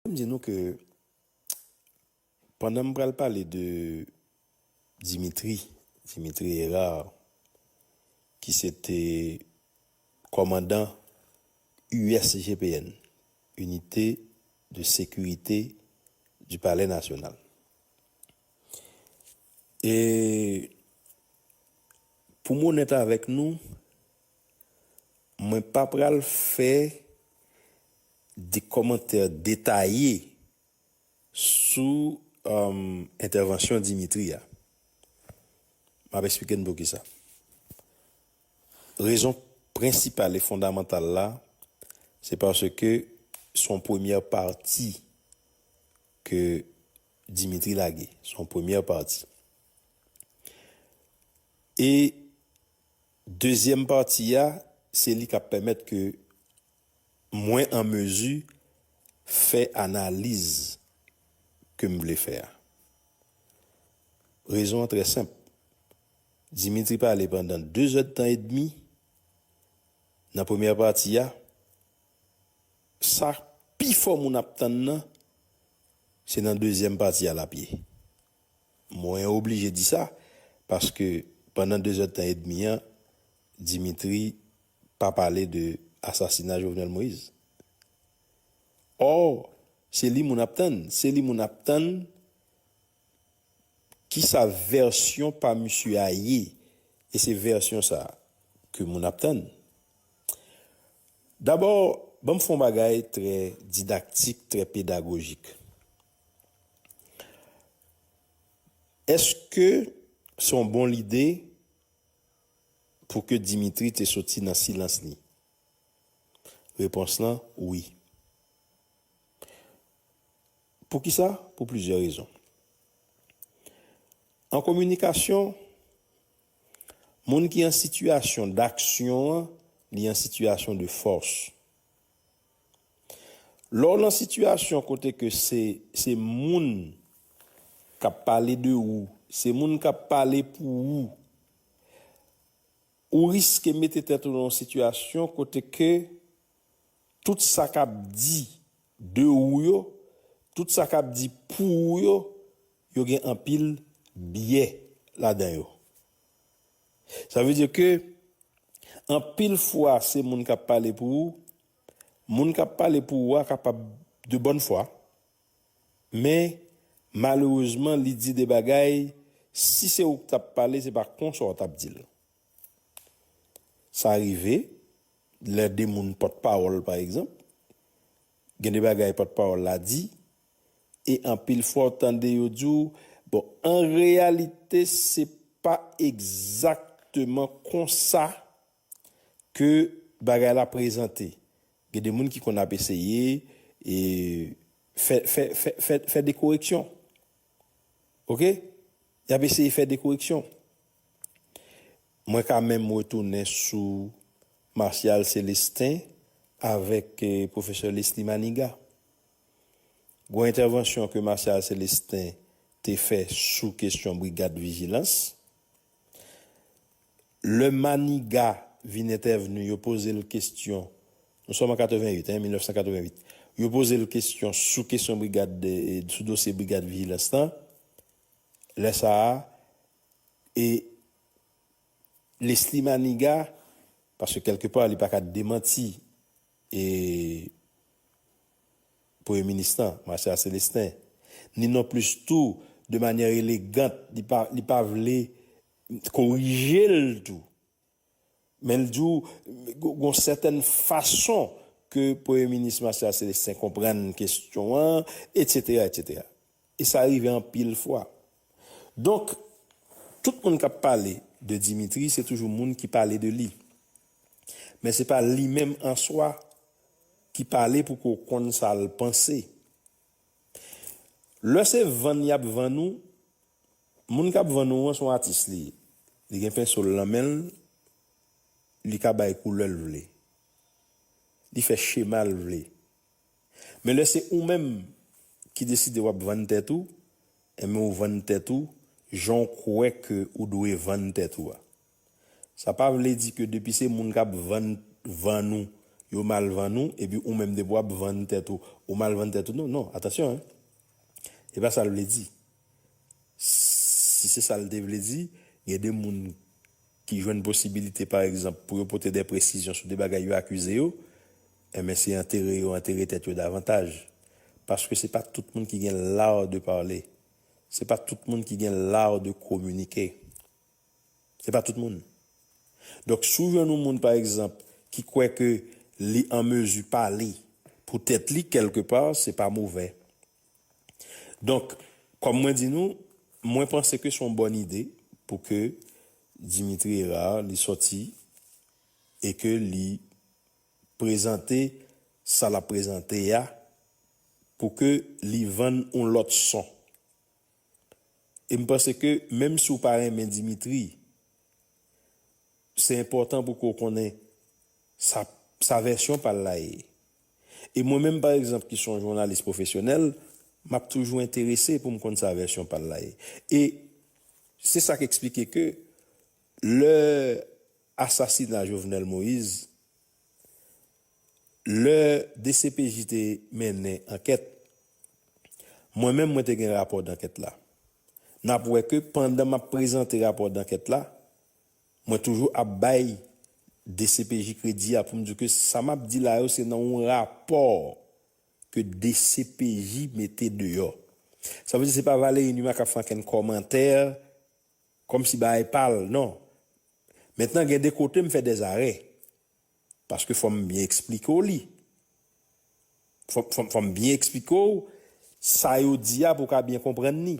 Fò m di nou ke pandan m pral pale de Dimitri, Dimitri Herard, ki se te kòmandan USGPN, Unité de Sécurité du Palais National. E pou m onèt avèk nou, Mwen pa pral fè de kòmantè detaye sou entèvansyon Dimitri a. M ap esplike n poukisa. Rezon prensipal e fondamantal la, se paske se yon premyè pati ke Dimitri lage. Se yon premyè pati. E Dezyèm pati a, se li k ap pèmèt ke mwen an mezi fè analiz ke m vle fè a. Rezon an trè senp. Dimitri pale pandan dezèdtan edmi nan premyè pati a. Sa pifò moun ap tann nan, se nan dezyèm pati a l ap ye. Mwen oblije di sa, paske pandan dezèdtan edmi an, Dimitri pa pale de asasina Jovenel Moïse. Or, se li moun ap tann, se li moun ap tann ki sa vèsyon pa misye a ye, e se vèsyon sa ke moun ap tann. Dabò, banm fè yon bagay trè didaktik, trè pedagojik. Eske se yon bon lide pou ke Dimitri te soti nan silans li? Repons lan, wi. Pou ki sa? Pou plizyè rezon. An kominikasyon, moun ki an sitiyasyon daksyon an, li an sitiyasyon de fòs. Lè w nan sitiyasyon kote ke se se moun k ap pale de ou, se moun k ap pale pou ou, ou riske mete tèt ou nan yon sitiyasyon kote ke tout sa k ap di de ou yo, tout sa k ap di pou ou yo, yo gen anpil biyè ladan yo. Sa vle di ke Anpil fwa se moun k ap pale pou ou, moun k ap pale pou ou a kapab de bòn fwa, men malerezman li di de bagay si se ou k t ap pale se pa konsa w t ap di l. Sa rive lè de moun pòtpawòl pa egzanp, gen de bagay pòtpawòl la di. E anpil fwa w tande yo di w, bon an reyalite se pa egzakteman konsa ke bagay la prezante. Gen de moun ki konn ap eseye e fè fè fè fè de koreksyon. Ok? Y ap eseye fè de koreksyon. Mwen ka menm retounen sou Martial Celestin avèk Professor Lesly Manigat. Gwo entèvansyon ke Martial Celestin te fè sou kesyon brigad vijilans. Lè Maniga vin entèvni yo poze l kesyon, nou sòm an 88 hein, 1988, yo poze l kesyon sou kesyon brigad, sou dosye brigad vijilans lan, lè sa a e Lesly Maniga, paske kèlke pa li pa ka demanti e Premye Minis lan, Marcella Célestin, ni non plis tou de manyè elegant li pa li pa vle korije l tou men l di w gon sètèn fason ke Premye Minis Marcella Célestin konprann kesyon an, etsetera, etsetera. E sa rive anpil fwa. Donk, tout moun k ap pale de Dimitri se toujou moun ki pale de li. Men se pa li menm an swa ki pale pou ke w konn sa l panse. Lè se vann y ap vann ou, moun k ap vann ou an se yon atis li ye. Li gen penso l nan men l, li ka bay koulè l vle. Li fè chema l vle. Men lè se ou menm ki deside wap vann tèt ou, enben ou vann tèt ou jan w kwè ke ou dwe vann tèt ou a. Sa pa vle di ke depi se moun kap vann vann ou yo mal vann ou epi ou menm depi wap vann tèt ou ou mal vann tèt ou non non atansyon hein. Se pa sa l vle di. Si se sa l te vle di, gen de moun ki jwenn posibilite, pa egzanp, pou yo pote de presizyon sou de bagay yo akize yo, enben se antere yo antere tèt yo davantaj. Paske se pa tout moun ki gen l'art de parler. Se pa tout moun ki gen l'art de communiquer. Se pa tout moun. Donk si w jwenn yon moun, pa egzanp, ki kwè ke li an mezi pale pou tèt li, kèlke pa, se pa movè. Donk, kòm mwen di nou, mwen panse ke se yon bòn ide pou ke Dimitri Herard li sòti e ke li prezante sa l ap prezante a pou ke li vann yon lòt son. Em panse ke menm si w pa renmen Dimitri se enpòtan pou ke w konnen sa sa vèsyon pa l la ye. E mwen menm pa egzanp ki son jounalis pwofesyonèl m ap toujou enterese pou m konn sa vèsyon pa l la ye. E se sa k eksplike ke lè asasina Jovenel Moïse Lè dcpj te mennen ankèt, mwen menm mwen te gen rapò dankèt la. N ap wè ke pandan m ap prezante rapò dankèt la, mwen toujou ap bay dcpj kredi a pou m di ke sa m ap di la yo se nan yon rapò ke dcpj mete deyò. Sa vle di se pa Valéry Numa k ap fè ankenn kòmantè Kòmsi bagay pa al non. Mentnan gen de kote m fè dè zarè. Paske fò m byen eksplike w li. Fò m byen eksplike w sa yo di a pou w ka byen konprann ni.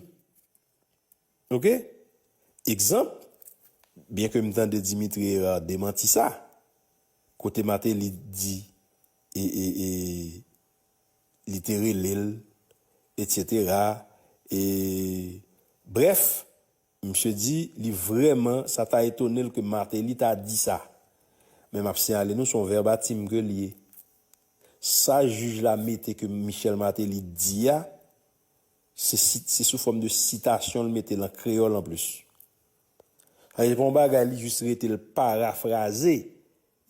Ok. Egzanp, byenke m tande Dimitri Herard demanti sa. Kote Martelly di e e e. li te rele l, etsetera, e, brèf, misye di li vrèman sa ta etone l ke Martelly ta di sa. Men m ap siyale nou se yon vèbatim ke l ye. Sa jij la mete ke Michel Martelly di a, se sit, se sou fòm de sitasyon l mete l an kreyòl anplis. Sa vle di se pa yon bagay li jis rete l parafraze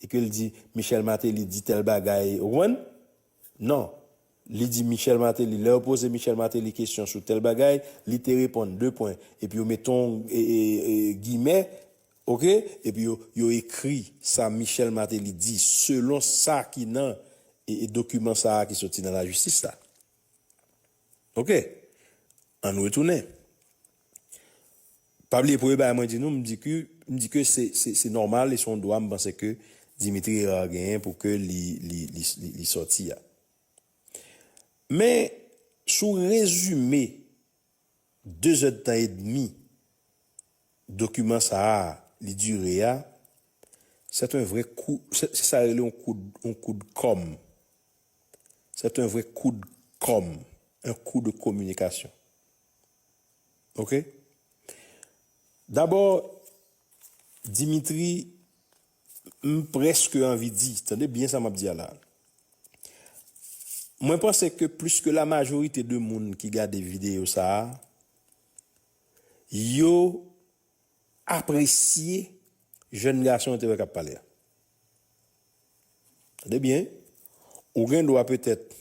E ke l di, Michel Martelly di tèl bagay, ou konprann? Non. Li di Michel Martelly, lè yo poze Michel Martelly kesyon sou tèl bagay, li te reponn, 2 pwen, epi yo mete yon gimè, ok, epi yo, yo ekri sa Michel Martelly di, selon sa ki nan dokiman sa a ki soti nan lajistis la. Ok! Ann retounen. Pa bliye premye bagay mwen di nou, m di ke, m di ke se, se, se nòmal e se yon dwa m panse ke Dimitri Herard genyen pou ke li, li, li, li sòti a. Men, si w rezime dezèdtan edmi dokiman sa a li dire a, sèt en vre kou, se sa yo rele yon koud, yon koud kòm. c'est un vrai coup de com un coup de communication ok d'abord Dimitri m preske anvi di tande byen sa map di a la mwen panse ke plis ke la majorite de moun ki gade video sa yo apresye jèn gason an te wè kap pale a. Tande byen, ou gen dwa petèt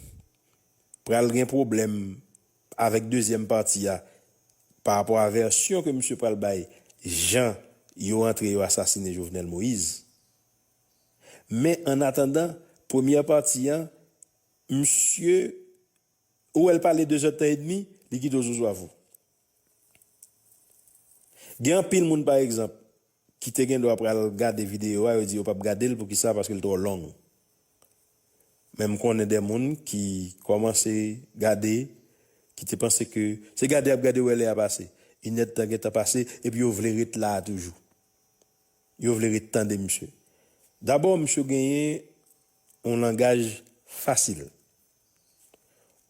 pral gen pwoblèm avèk dezyèm pati a pa rapò a vèsyon ke misye pral bay jan yo antre yo asasine Jovenel Moïse. Men an atandan, premyè pati an, misye, ou wè l pale dezèdtan edmi, li kite w zouzou avou. Gen anpil moun pa egzanp ki te gendwa pral gade videyo a yo di yo pap gade l poukisa paske l twò long men m konnen de moun ki kòmanse gade ki te panse ke se gade yap gade wè lè a pase inèdtan gentan pase epi yo vle ret la a toujou yo vle ret tande misye dabò misye genyen yon langaj fasil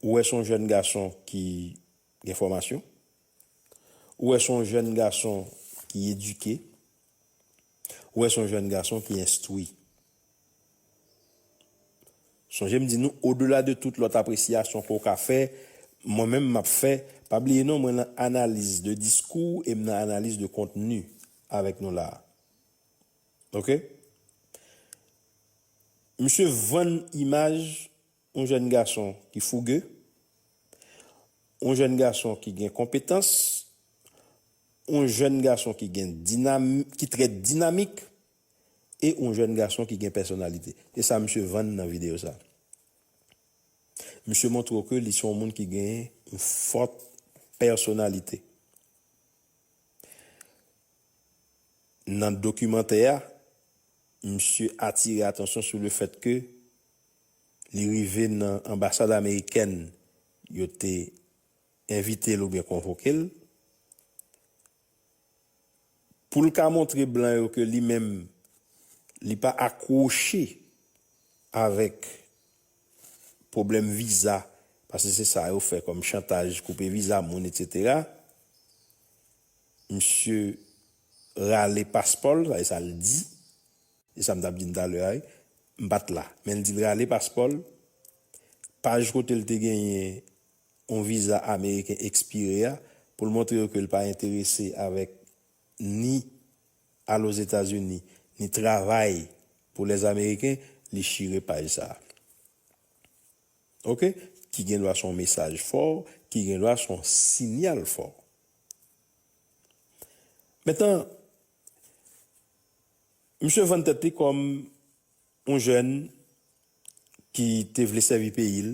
ou wè son jèn gason ki gen fòmasyon, ou wè son jèn gason ki edike, ou wè son jèn gason ki enstwi. Sonje m di nou odela de tout lòt apresyasyon ke w ka fè, mwen menm m ap fè, pa bliye non mwen nan analiz de diskou e m nan analiz de kontni avèk nou la a. Ok? Misye vann imaj. Yon jèn gason ki fouge. Yon jèn gason ki gen konpetans. Yon jèn gason ki gen dinamik, ki trè dinamik e yon jèn gason ki gen pèsonalite. Se sa misye vann nan videyo sa. Misye montre w ke li se yon moun ki gen yon fòt pèsonalite. Nan dokimantè a, misye atire atansyon sou le fèt ke li rive nan anbasad amerikèn yo te envite l oubyen konvoke l, pou l ka montre blan yo ke li menm li pa akwoche avèk pwoblèm viza, paske se sa yo fè kòm chantaj, koupe viza moun etsetera, misye rale paspò l, sa se sa l di. E sa m t ap di n talè a wi. M pa t la. Men l di l rale paspò l. Paj kote l te genyen yon viza ameriken ekspire a pou l montre yo ke l pa enterese avèk ni al Ozetazini ni travay pou Lèzameriken, li chire paj sa a. Ok? Ki gen dwa se yon mesaj fò, ki gen dwa se yon sinyal fò. Mentnan, Misye vann tèt li kòm yon jèn ki te vle sèvi peyi l.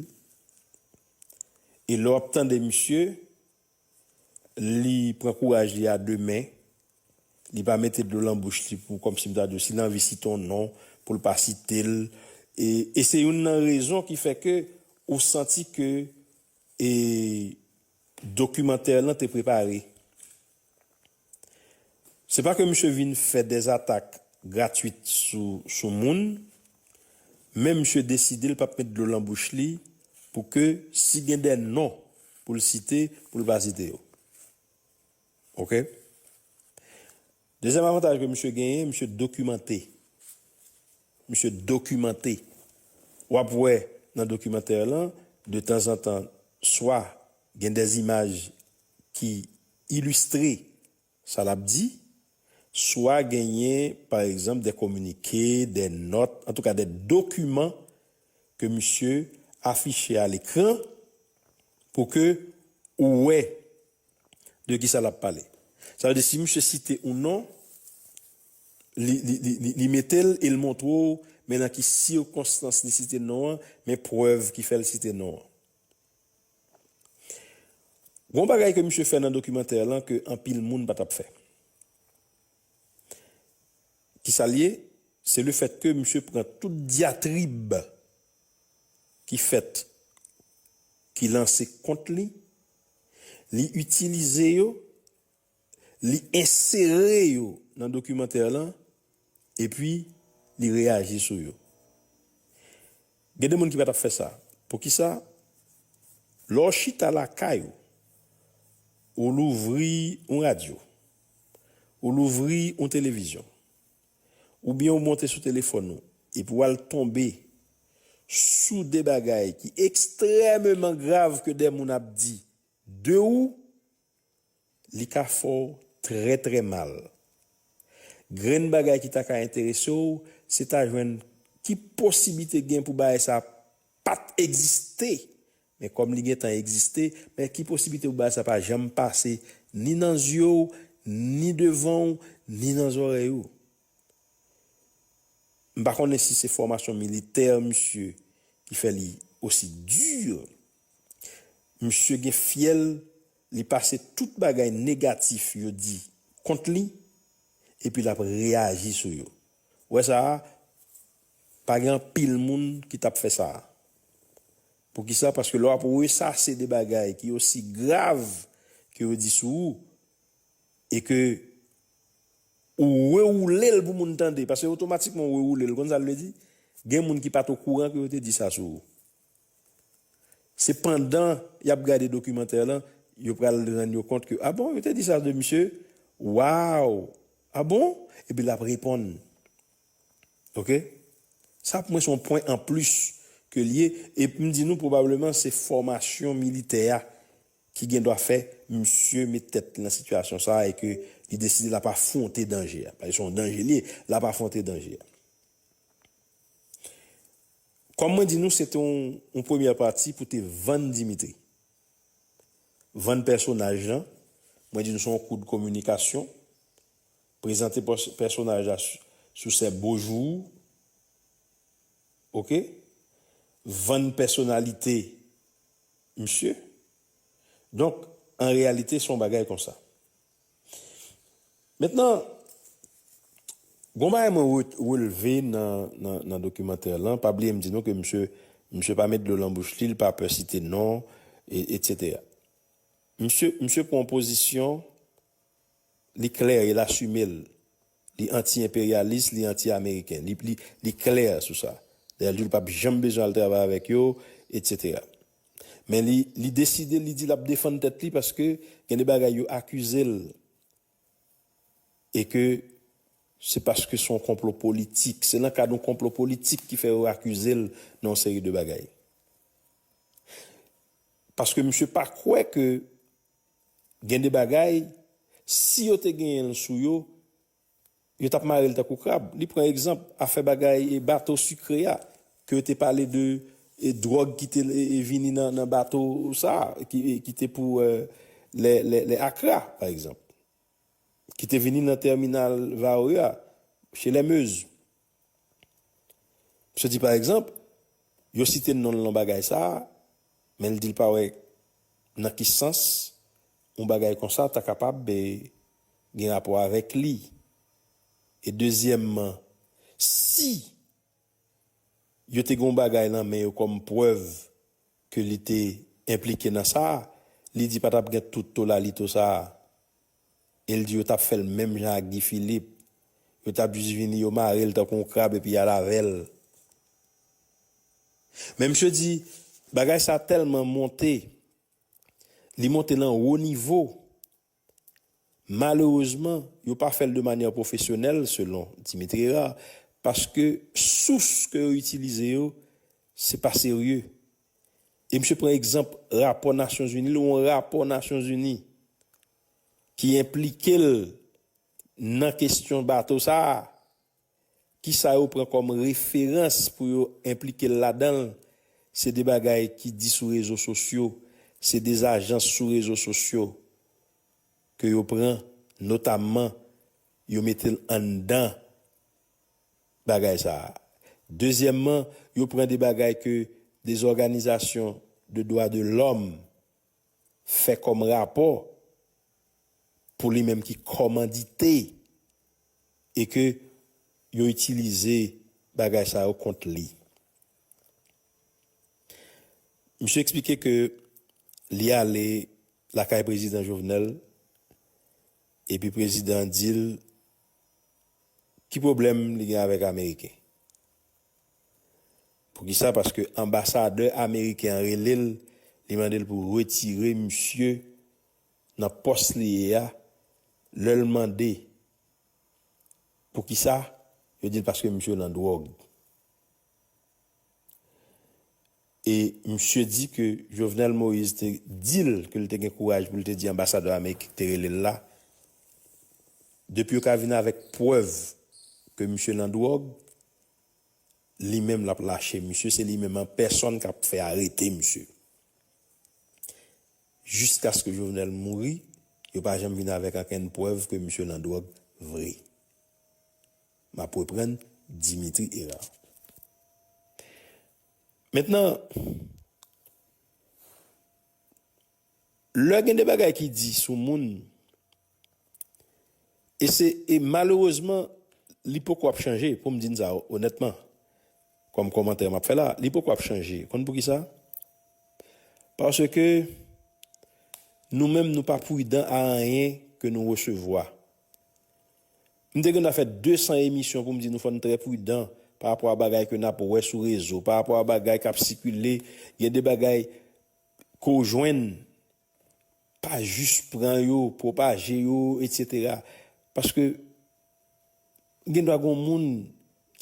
E lè w ap tande misye, li pran kouraj li a de men. Li pa mete dlo lan bouch li pou kòm si m ta di w si l anvi site yon non pou l pa site l. E se youn nan rezon ki fè ke ou santi ke dokimantè lan te prepare. Se pa ke misye vin fè des atak gratuit sou sou moun, men misye deside l pap met dlo lan bouch li pou ke si gen dè non pou l site pou l pa site yo. Ok. Dezyèm avantaj ke misye genyen, misye dokimante. Misye dokimante. Wap wè nan dokimantè lan, de tanzantan swa gen des imaj ki Ilustre, Sa n ap di, swa genyen pa egzanp dè kominike, dè nòt, antouka dè dokiman ke misye afiche a lekran pou ke ou wè de kisa l ap pale. Sa vle di si misye site yon non, li mete l e l montre w men nan ki sikonstans li site non an, men prèv ki fè l site non an. Gon bagay ke misye fè nan dokimantè lan ke anpil moun pa tap fè. Kisal ye? Se le fèt ke misye pran tout dyatrib ki fèt, ki lanse kont li, li itilize yo li ensere yo nan dokimantè lan epi li reyaji sou yo. Gen de moun ki pa t ap fè sa. Poukisa? Lè w chita lakay ou, ou louvri yon radyo, ou louvri yon televizyon oubyen ou monte sou telefòn ou epi w al tonbe sou de bagay ki ekstrèmeman grav ke de moun ap di de ou, Li ka fè w trè trè mal. Grenn bagay ki ta ka enterese w se ta jwenn ki posibite gen pou bagay sa pa t egziste men kòm li gentan egziste men ki posibite pou bagay sa pa janm pase ni nan zye w ni devan w ni nan zòrèy ou. M pa konnen si se fòmasyon militè misye ki fè li osi dur. Misye gen fyèl li pase tout bagay negatif yo di kont li epi lap reyaji sou yo ou wè sa pa gen anpil moun ki tap fè sa poukisa paske lè wap resase de bagay ki osi grav ke yo di sou ou e ke ou rewoulel pou moun tande paske otomatikman ou rewoulel ou konn sa l vle di gen moun ki pat okouran ke yo te di sa sou ou. Se pandan yap gade dokimantè lan yo pral rann yo kont ke ah bon yo te di sa de misye waww ah bon epi lap reponn ok sa pou mwen son pwen an plis ke liye e poum di nou pwobableman se fòmasyon militè a ki gen dwa fè misye met tèt li nan sitiyasyon sa e ke li deside lap afwonte danje a paske son danje liye lap afwonte danje a. Kòm mwen di nou se te yon premyè pati pou te vann Dimitri. Vann pèsonaj lan, mwen di nou se yon kou de kominikasyon, prezante pèsonaj la sou sè Beaujour, ok, vann pèsonalite misye. Donk, an reyalite se yon bagay konsa. Mentnan, gon bagay mwen relve nan dokimantè lan, pa bliye m di nou ke misye, misye pa met dlo lan bouch li, li pa pè site non, etc. Misye, misye pran yon pozisyon, li klè, el asime l, li anti enperyalis, li anti ameriken, li klè sou sa. Dayè l di l pa p janm bezwen al travay avèk yo, etc. Men li li deside li di lap defann tèt li paske gen de bagay yo akizel e ke se paske son konplo politik se nan kad yon konplo politik ki fè yo akizel nan yon seri de bagay. Paske misye pa kwè ke gen de bagay si yo te genyenl sou yo Yo tap marel tankou krab. Li pran egzanp afè bagay bato sikre a ke yo te pale de dròg ki te vini nan bato sa ki te pou lè Akra pa egzanp. Ki te vini nan tèminal Varreux a, chez les Meuse. Misye di pa egzanp, yo site non l nan bagay sa a, men l di l pa wè nan ki sans yon bagay konsa ta kapab gen rapò avèk li. E dezyèmman, si yo te gen yon bagay nan men yo kòm prèv ke li te enplike nan sa, li di pa t ap gen tout tolalito sa a. El di yo tap fèl menm jan ak Guy Philippe yo tap jis vini yo marel tankou yon krab epi yal avèl men misye di bagay sa tèlman monte li monte lan wo nivo malerezman yo pa fèl de manyè pwofesyonèl selon Dimitri Herard paske sous ke yo itilize yo se pa serye. E misye pran egzanp rapò Nasyonzini, li yon rapò Nasyonzini ki enplike l nan kesyon bato sa a, ki sa yo pran kòm referans pou yo enplike l ladan l, se de bagay ki di sou rezo sosyo, se de zajans sou rezo sosyo ke yo pran, notamman yo mete l anndan. bagay sa a. Dezyèmman, yo pran de bagay ke de zòganizasyon de dwa de lòm fè kòm rapò pou li menm ki kòmandite e ke yo itilize bagay sa yo kont li. Misye eksplike ke li ale lakay Prezidan Jovenel epi Prezidan an di l Ki pwoblèm li gen avèk ameriken? Poukisa paske anbasadè ameriken an rele l li mande l pou retire misye nan pòs li ye a lè l mande poukisa yo di l paske misye nan dwòg E misye di ke Jovenel Moïse te di l ke l te gen kouraj pou l te di anbasadè ameriken ki te rele l la, depi yo ka vin avèk prèv ke misye nan dwòg, li menm l ap lache misye, se li menm an pèsòn k ap fè arete misye. Jiskaske Jovenel mouri, yo pa janm vin avèk ankenn prèv ke misye nan dwòg vre. M ap reprann, Dimitri Hérard. Mentnan, lè gen de bagay ki di sou moun, e se, e malerezman, li poko ap chanje, pou m di n sa onètman, kòm kòmantè m ap fè la a, li poko ap chanje. Konn pou ki sa? Paske nou menm nou pa pridan a anyen ke nou resevwa. M te gentan fè 200 emisyon pou m di nou fò n trè pridan pa rapò a bagay ke n ap wè sou rezo, pa rapò a bagay k ap sikile. Gen de bagay ke w jwenn, pa jis pran yo, pwopaje yo etsetera. Paske gen dwa gen yon moun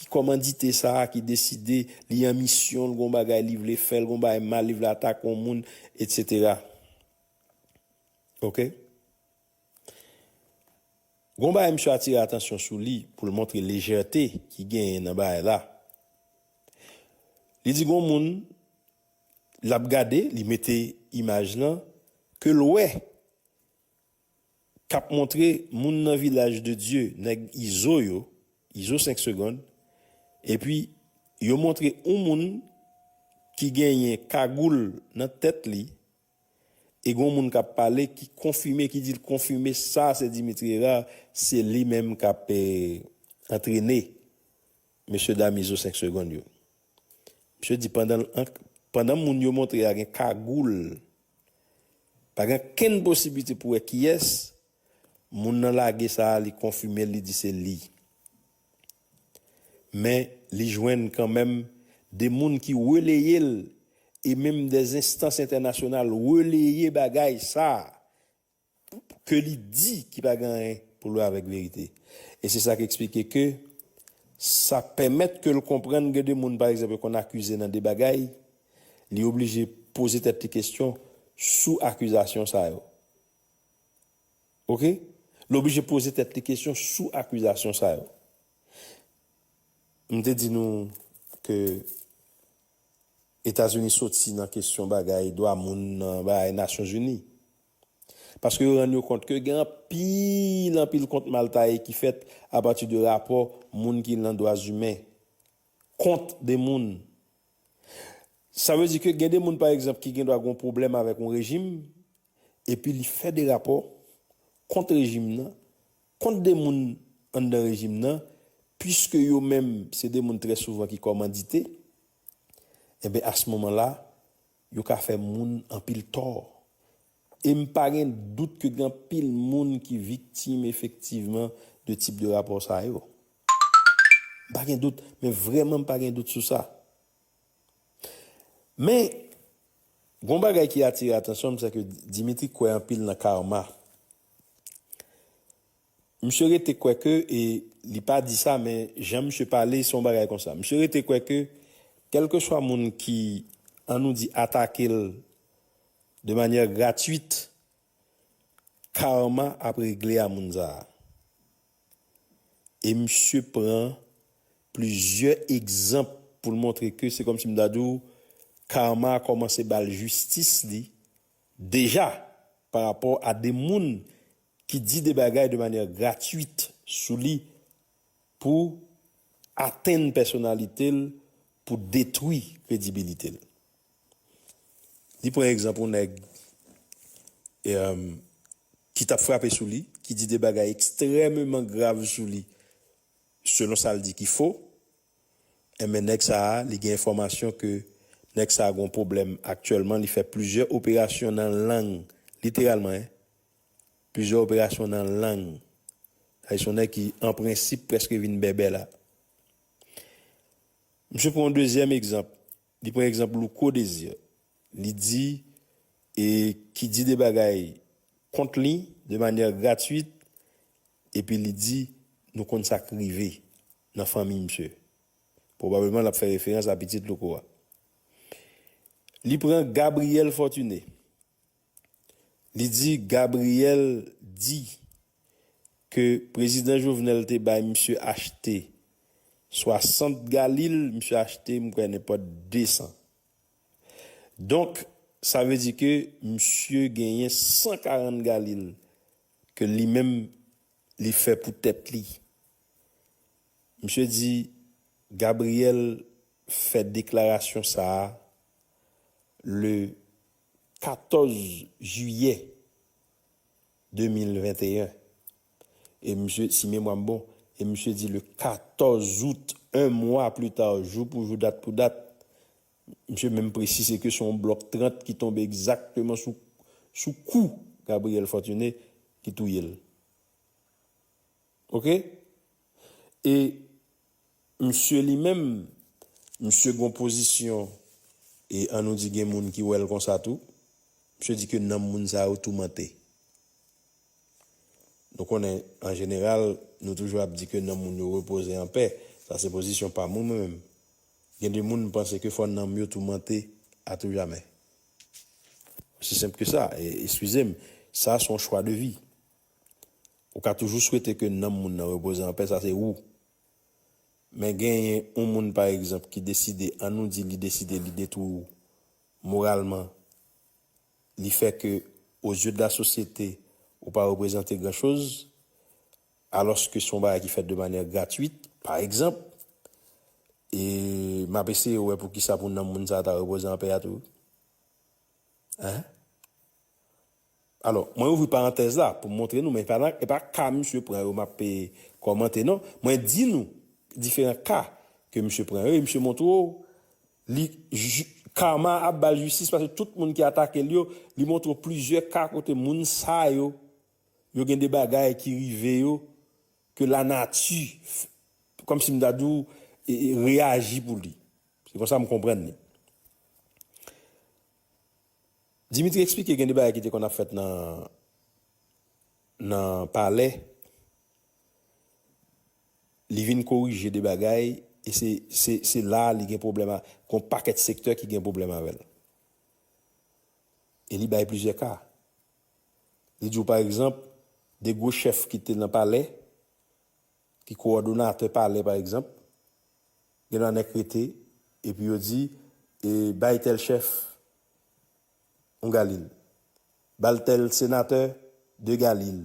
ki kòmandite sa, ki deside li an misyon, l gen yon bagay li vle fè, l gen yon bagay mal li vle atake yon moun etsetera. Ok. Gon bagay misye atire atansyon sou li pou l montre lejète ki genyen nan bagay la. Li di gon moun l ap gade, li mete imaj lan, ke l wè k ap montre moun nan Vilaj de Dye, nèg Izo yo, Izo 5 segond, epi yo montre yon moun ki genyen kagoul nan tèt li, E gon moun kap pale ki konfime ki dil konfime sa se Dimitri Herard se li menm kap antrene mesye dam izo 5 segond yo. Misye di pandan pandan moun yo montre a gen kagoul pa gen kenn posibite pou wè kiyès moun nan lage sa li konfimel li di se li. Men, li jwenn kanmenm de moun ki releye l e menm de enstans entènasyonal releye bagay sa ke li di ki pa gen anyen pou l wè avèk verite. E se sa k eksplike ke sa pèmèt ke l konprann gen de moun pa egzanp yo konn akize nan de bagay, li oblije poze tèt li kesyon sou akizasyon sa yo. Ok. Li oblije poze tèt li kesyon sou akizasyon sa yo. M te di nou ke Etazini soti nan kesyon bagay dwa moun nan bagay Nasyon Zini. Paske yo rann yo kont ke gen anpil, anpil kont mal taye ki fèt apati de rapò moun ki nan dwa zimen kont de moun. Sa vle di ke gen de moun pa egzanp ki gen dwa gen yon pwoblèm avèk yon rejim, epi li fè de rapò kont rejim nan, kont de moun anndan rejim nan, puiske yo menm se de moun trè souvan ki kòmandite, enben a s moman la, yo ka fè moun anpil tò. E m pa gen dout ke gen anpil moun ki viktim efektivman de tip de rapò sa yo. M pa gen dout, men vrèman m pa gen dout sou sa. Men, gon bagay ki atire atansyon m, sèke Dimitri kwè anpil nan Karma. Misye rete kwè ke, e li pa di sa men jan misye pale se yon bagay konsa. Misye rete kwè ke kèlkeswa moun ki, an nou di, atake l de manyè gratwit, Karma ap regle a moun sa a. E misye pran plizyè egzanp pou l montre ke se kòmsi m ta di w karma a kòmanse ba l jistis li deja pa rapò a de moun ki di de bagay de manyè gratwit sou li pou atenn pèsonalite l, pou detwi kredibilite l. Li pran egzanp yon nèg. ki tap frape sou li, ki di de bagay ekstrèmeman grav sou li, selon sa l di ki fo, enben nèg sa a li gen enfòmasyon ke nèg sa a gon pwoblèm aktyèlman, li fè plizyè operasyon nan lang, literalman hein, plizyè operasyon nan lang, sa vle di se yon nèg ki an prensip prèske vin bèbè la. Misye pran yon dezyèm egzanp. Li pran egzanp Louko Desir, li di e ki di de bagay kont li de manyè gratuit epi li di nou konn sa k rive nan fanmi misye. Pwobableman l ap fè referans a pitit Louko a. Li pran Gabriel Fortuné. Li di Gabriel di ke Prezidan Jovenel te bay misye achte 60 galil, misye achte m kwè nenpòt 200. Donk sa vle di ke misye genyen 140 galil ke li menm li fè pou tèt li. Misye di Gabriel fè deklarasyon sa a le 14 jiyè 2021 e misye, si memwa m bon, e misye di le 14 out, 1 mwa pli ta, jou pou jou, dat pou dat, misye menm presize ke se yon blòk 30 ki tonbe egzakteman sou sou kou Gabriel Fortuné ki touye l. Ok. E msye li menm, msye gon pozisyon e an nou di gen moun ki wè l konsa tou, msye di ke nanm moun sa yo toumante. Nou konnen an jeneral nou toujou ap di ke nanm moun yo repoze an pè, sa se pozisyon pa mwen mwen menm. Gen de moun m panse ke fò nanm yo toumante a tou jamè. Osi senp ke sa, eskize m, sa son chwa de vi. Ou ka toujou swete ke nanm moun nan repoze an pè, sa se ou. Men genyen yon moun pa egzanp ki deside, an nou di li deside li detwi w moralman, li fè ke o zye de la sosyete ou pa reprezante gran choz, alòske se yon bagay ki fèt de manyè gratwit, pa egzanp, e m ap eseye wè poukisa pou nanm moun sa ta repoze an pè a tou. Hein? Alò, mwen ouvri parantèz la pou m montre nou men e pa ka misye pran yo m ap kòmante non. Mwen di nou diferan ka ke misye pran yo e misye montre w li karma ap ba l jistis paske tout moun ki atake l yo li montre w plizyè ka kote moun sa yo yo gen de bagay ki rive yo ke lanati kòm si m ta di w reyaji pou li. Se konsa m konprann li. Dimitri eksplike gen de bagay ki te konn ap fèt nan nan palè, li vin korije de bagay e se se se la a li gen pwoblèm a gon pakèt sektè ki gen pwoblèm avè l. E li bay plizyè ka. Li di w pa egzanp, de gwo chèf ki te nan palè, ki kowòdonatè palè pa egzanp, gen dwa nèk rete epi yo di e bay tèl chèf yon galil, ba l tèl senatè de galil.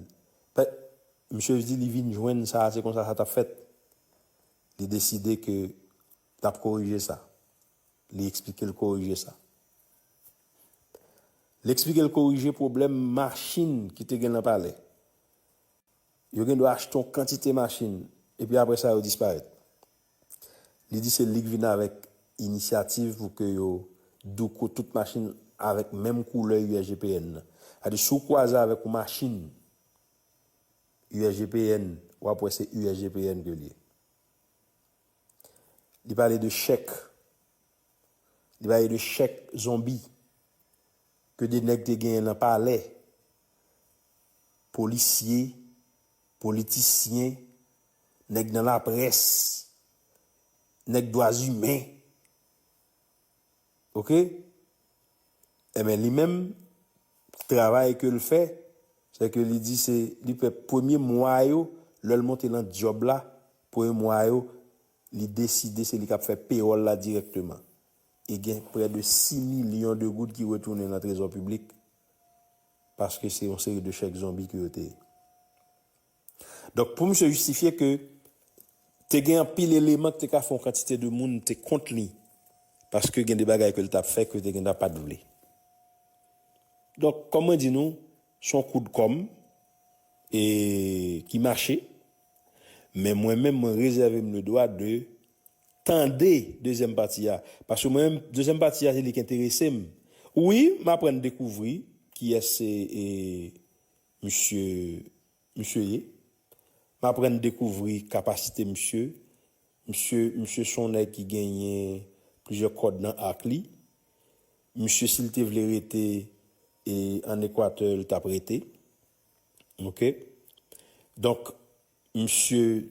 Pè, misye di li vin jwenn sa a se konsa sa t ap fèt. Li deside ke l ap korije sa. Li eksplike l korije sa. Li eksplike l korije pwoblèm machin ki te gen nan palè. Yo gen dwa achte yon kantite machin epi apre sa yo disparèt. Li di se li k vin avèk inisyativ pou ke yo douko tout machin avèk menm koulè USGPN nan. Sa di si w kwaze avèk yon machin USGPN, w ap wè se USGPN ke l ye. Li pale de chèk, li pale de chèk zonbi ke de nèg te genyen nan palè Polisye, politisyen, nèg nan laprès, nèg dwazimen. Ok? Enben li menm, travay ke l fè, se ke li di se li fè premye mwa yo, lè l monte lan dyòb la, premye mwa yo, li deside se li k ap fè pewòl la dirèkteman. e gen prè de 6 milyon de goud ki retounen nan trezò piblik paske se yon seri de chèk zonbi ke yo te ye. Donk pou misye jistifye ke te gen anpil eleman ki te ka fè yon kantite de moun te kont li paske gen de bagay ke li tap fè ke yo te gentan pat vle. Donk kòm mwen di nou, se yon kout kòm e ki mache men mwen menm mwen rezève m le dwa de Tande dezyèm pati a paske mwen menm dezyèm pati a se li k enterese m wi m aprann dekouvri kiyès se misye misye ye m aprann dekouvri kapasite misye misye misye s on nèg ki genyen plizyè kòd nan ak li misye si l te vle rete ann ekwatè l t ap rete ok donk. Misye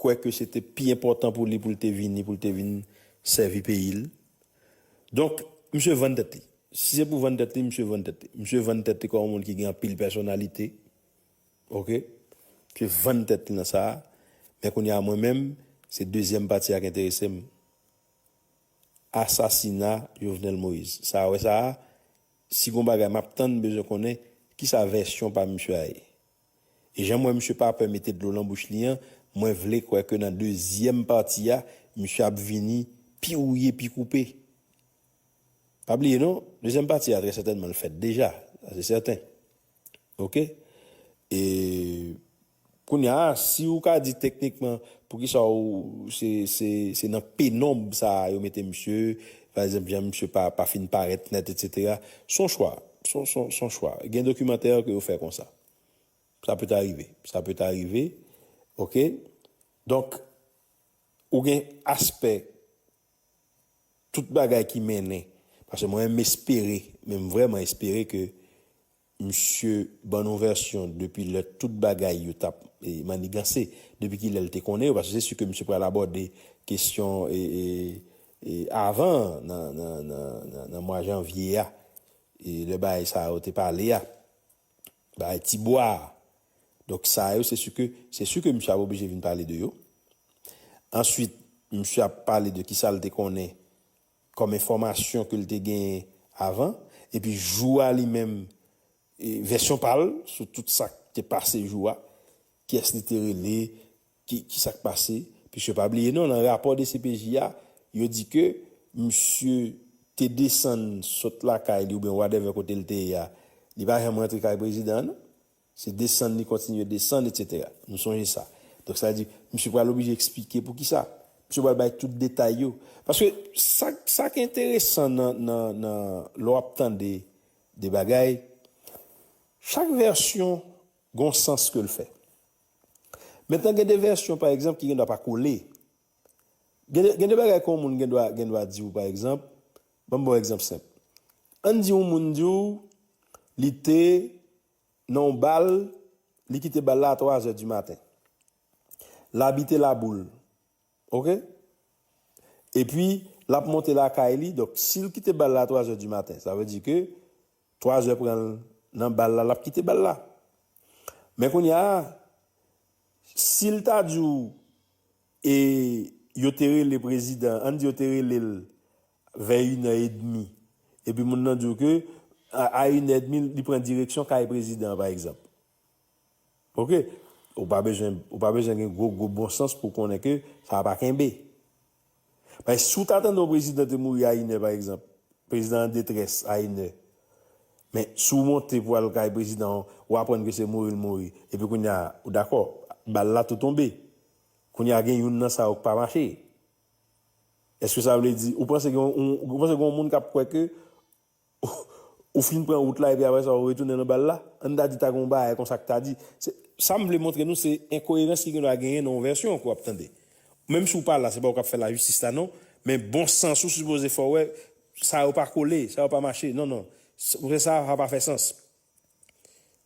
kwè ke se te pi enpòtan pou li pou l te vini, pou l te vin sèvi peyi l. Donk, misye vann tèt li. Si se pou vann tèt li, misye vann tèt li. Misye vann tèt li kòm yon moun ki gen anpil pèsonalite. Ok. Misye vann tèt li nan sa a. Men kounye a mwen menm, se dezyèm pati a ki enterese m. Asasina Jovenel Moïse. Sa a wè sa a, si gen yon bagay m ap tann, m bezwen konnen, kisa vèsyon pa misye a ye? E janm wè misye pa pè mete dlo lan bouch li an mwen vle kwè ke nan dezyèm pati a misye ap vini pi wouye pi koupe. Pa bliye non dezyèm pati a trè sètènman l fèt deja sa se sèten ok e kounya si ou ka di teknikman poukisa ou se se se nan penonb sa yo mete misye Pa egzanp jan misye pa pa fin parèt nèt etc. Son chwa, son son son chwa. Gen dokimantè ke yo fè konsa. Sa peut arrive, sa peut arrive ok. Donk ou gen aspè tout bagay ki mennen paske mwen menm espere menm vrèman espere ke Misye ban nou vèsyon depi lè tout bagay yo t ap maniganse, depi ki lè l te konnen yo, paske se si ke misye pral abòde kesyon avan nan mwa janvye a, lè bagay sa yo te pale a, bagay ti bwa a. Donk sa yo se si ke, se si ke misye ap oblije vin pale de yo. Answit, misye ap pale de kisa l te konnen kòm enfòmasyon ke l te genyen avan, epi jou a li menm vèsyon pa l sou tout sa k te pase jou a, kiyès li te rele, ki kisa k pase, piske pa bliye non nan rapò dcpj a yo di ke misye te desann sot lakay li oubyen whatever kote l te ye a, li pa janm rantre kay prezidan an non. Se desann li kontinye desann etsetera. Nou sonje sa. Donk sa vle di, misye pral oblije eksplike pou ki sa. Misye pral bay tout detay yo. Paske sa k, sa k enteresan nan, nan, nan, lè w ap tande de bagay, chak vèsyon gon sans ke l fè. Mentnan gen de vèsyon pa egzanp ki gen dwa pa kole. Gen de, gen de bagay ke yon moun gen dwa, gen dwa di w pa egzanp, ban m ba w egzanp senp. An n di yon moun di w li te Nan yon bal, li kite bal la a 3 zè di maten. L abite Laboul. Ok. Epi, l ap monte lakay li. Donk, si l kite bal la a 3 zè di maten, sa vle di ke 3 zè pran l nan bal la, l ap kite bal la. Men kounye a, si l ta di w e yo te rele prezidan, an n di yo te rele l vè inè edmi, epi moun nan di w ke a inè edmi li pran direksyon kay prezidan an pa egzanp. Ok, ou pa bezwen, ou pa bezwen gen gwo gwo bon sans pou w konnen ke sa pa kenbe. Paske si w ta tande yon prezidan te mouri a inè pa egzanp, prezidan an detrès a inè, men si w monte pou al kay prezidan an, ou aprann ke se mouri l mouri, epi kounye a, ou dakò, bal la tou tonbe. Kounye a gen youn nan sa yo k pa mache. Eske sa vle di, ou panse gen yon moun kap kwè ke ou fin pran wout la epi apre sa ou retounen nan bal la? Ann ta di ta gen yon bagay konsa ki ta di. Sa m vle montre nou se enkoyerans ki gendwa genyen nan yon vèsyon ke w ap tande. Menm si w pa la, se pa ou k ap fè lajistis la non, men bon sans ou sipoze fè w wè sa yo pa kole, sa yo pa mache. Non, non. Sa pa fè sans.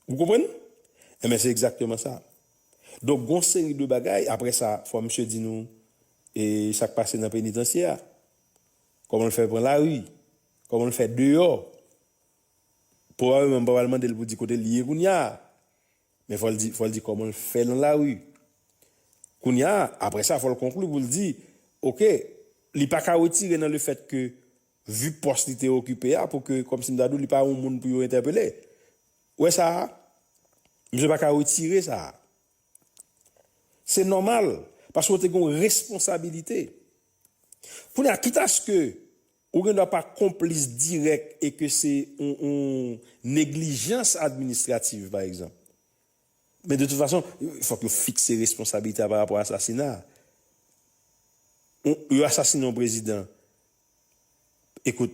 Ou konprann? Enben se egzakteman sa. Donk gon seri de bagay, apre sa fò misye di nou e sak pase nan penitansye a, kòman l fè pran lari, kòman l fè deyò, pwobableman m pa pral mande l pou di kote l ye kounya, men fò l di, fò l di kòman l fè nan lari. Kounya, apre sa fò l konkli pou l di, ok, li pa ka wetire nan lefèt ke Vu pòs li te okipe a pou ke kòmsi m ta di w li pa yon moun pou yo entèpele. Ou wè sa a? Misye pa ka retire sa a. Se nòmal paske ou te gen yon responsabilite. Kounye a kitaske ou gen dwa pa konplis dirèk e ke se yon neglijans administrativ pa egzanp. Men de tout fason, fòk yo fikse responsabilite a pa rapò asasina a. Yo asasine yon prezidan, ekout,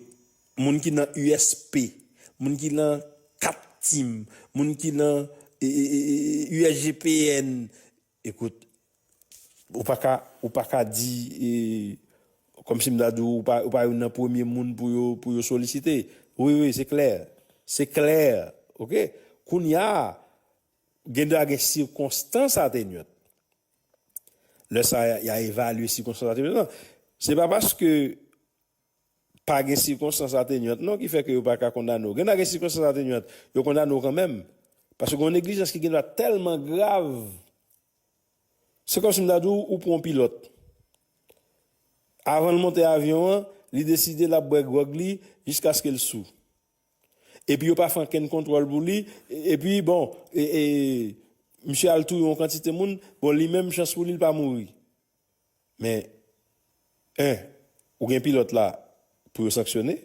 moun ki nan USP, moun ki lan 4 Tim, moun ki lan USGPN, ekout, Ou pa ka ou pa ka di e kòm si m ta di w ou pa youn nan premye moun pou yo pou yo solisite. Wi wi se klè se klè ok kounya gen dwa gen sikonstans atenyant lè sa y a evalye sikonstans atenyant lan se pa paske pa gen sikonstans atenyant non ki fè ke yo pa ka kondane w gen dwa gen sikonstans atenyant yo kondane w kanmenm paske gen yon neglijans ki gen dwa tèlman grav Se kòmsi m ta di w ou pran yon pilòt. Avan l monte avyon an, li deside l ap bwè gwòg li jiskaske l sou. Epi yo pa fè ankenn kontwòl pou li, epi bon, misye al touye yon kantite moun, bon li menm chans pou li l pa mouri. Men, 1 ou gen pilòt la pou yo sanksyone,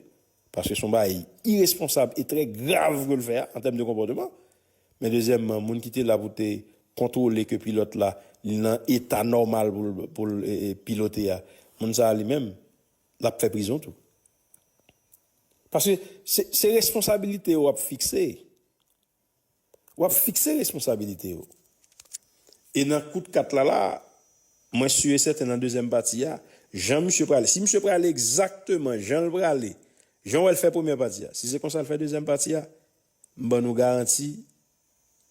paske son bagay iresponsab e trè grav ke l fè a an tèm de konpòteman, men dezyèmman moun ki te la pou te kontwole ke pilòt la li nan eta nòmal pou l pilote a, moun sa a li menm l ap fè prizon tou. Paske se responsabilite yo ap fikse. W ap fikse responsabilite yo. E nan kout kat la la, mwen si e sèten nan dezyèm pati a, jan misye prale, si misye prale egzakteman jan l prale, jan wè l fè premyè pati a, si se konsa l fè dezyèm pati a, m ban nou garanti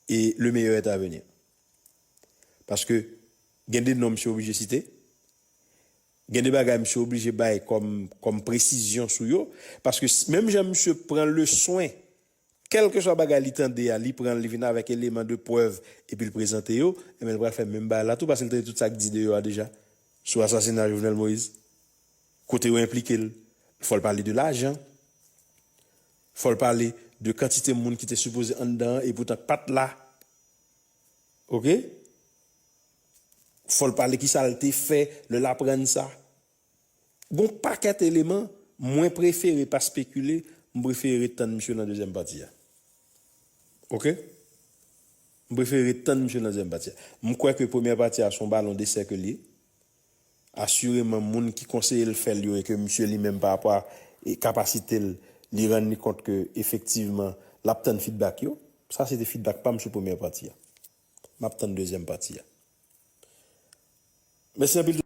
e le meyè est a veni. Paske gen de non misye oblije site, gen de bagay misye oblije bay kòm presizyon sou yo, paske menm jan misye pran leswen, Kèlkeswa bagay li tande a, li pran l, li vin avèk eleman de prèv epi l prezante yo, enben l pral fè menm bagay la tou paske l tande tout sa k di deyò a deja sou asasina Jovenel Moïse, kote yo enplike l. Fò l pale de lajan, fò l pale de kantite moun ki te sipoze anndan an e poutan k pa t la, oke, fò l pale kisa l te fè lè l aprann sa. Gon pakèt eleman mwen prefere pa spekile m prefere ret tann misye nan dezyèm pati a ok m prefere ret tann misye nan dezyèm pati a m kwè ke premyè pati a son balon de sèke l ye asireman moun ki konseye l fè l yo e ke misye li menm parapò a kapasite l li rann li kont ke efektivman l ap tann fidbak yo sa se te fidbak pa m sou premyè pati a m ap tann dezyèm pati a mèsi anpil.